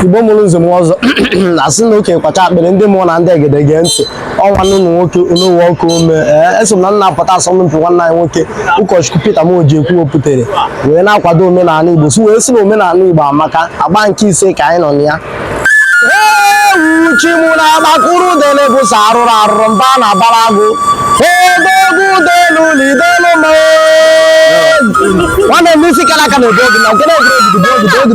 igbo mụrụ nze mụọ ọzọ a sị na okenye kwacha akpịrị ndị mụọ na ndị egede gee ntị nwanne m nwoke n'ụwa ọkụ ome ee eso m na nna apụta asọmpi nwanne anyị nwoke ụkọchukwu Peter Moji ekwu wepụtara wee na-akwado omenala igbo sị wee sị na omenala igbo amaka agba nke ise ka anyị nọ na ya ewu chi m na-agbakụrụ udele bụ sọ arụrụ arụrụ mba na abara agụ odogwu udelu na idelu ma nwanne m n'isi kara aka na-ebu ogu na nke na-egwuregwu bụ ogu bụ ogu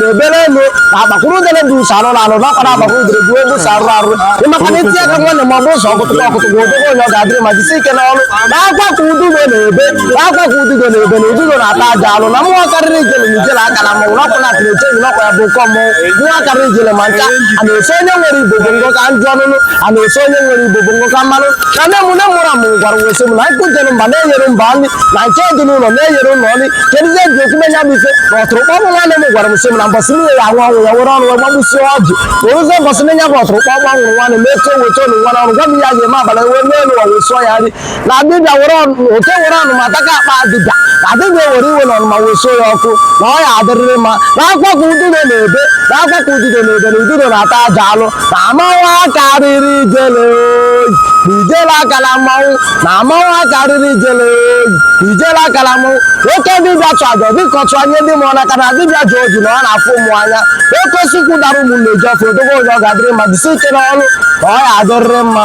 na-ebere elu na agbakwuru udere bụ ụzọ arụrụ arụ n'ọkwa na-agbakwa udere bụ ebe ụzọ arụrụ arụ ịmaka na itinye aka nwanne ma ọ bụ ụzọ ọkụtụkọ ọkụtụkọ odogwu onye ọ ga-adịrị mma jisi ike n'ọrụ na akwa ka ududo na-ebe na akwa ka ududo na-ebe na ududo na-ata aja alụ na mmụọ karịrị ijele na ijele akala mmanwụ n'ọkwa na atịrị eche n'ọkwa ya bụ ụkọ mmọnwụ mmụọ karịrị ijele ma nka a na-eso onye nwere igbo bụ ngụ ka njụ ọnụnụ a na-eso onye nwere igbo bụ ngụ ka mmanụ na nne m nne mụrụ mụ gwara wee sị m na nkụ jere mba na-eghere mba nri na nke dị n'ụlọ na-eghere ụlọ nri kedụzie ji ekwu menya bụ ife na ọtụrụkpọkpọ nwanne m gwara m sị m na mbọsị nne ya anwụ ọnwụ ya were ọnụ wee gbagbusie ọjị o ruzie mbọsị nne ya bụ ọtụrụkpọkpọ nwụrụ nwanne m eto weta ọnụ nwa n'ọnụ gwa m ya ga-eme abalị wee mee n'ụwa wee sụọ ya nri na dibịa were ọnụ oke were ọnụma taka akpa dibịa na dibịa were iwe na ọnụma wee sụọ ya ọkụ na ọ ya adịrịrị mma na akwa ka ududo na-ebe na akwa ka ududo na-ebe na ududo na-ata aja alụ na mmanwụ akarịrị ijele oyi na ijele akala mmanwụ na mmanwụ akarịrị ijele oyi ijele akala mụọ oke dibịa chụọ aja dịka ọ chụnye ndị mụọ n'aka na dibịa ji oji na ọ na-afụ mụọ anya oke osisi ukwu dara ụmụ nnụnụ eju ọfịa odogwu onye ọ ga-adịrị mma jisi ike n'ọrụ ka ọ ya adịrịrị mma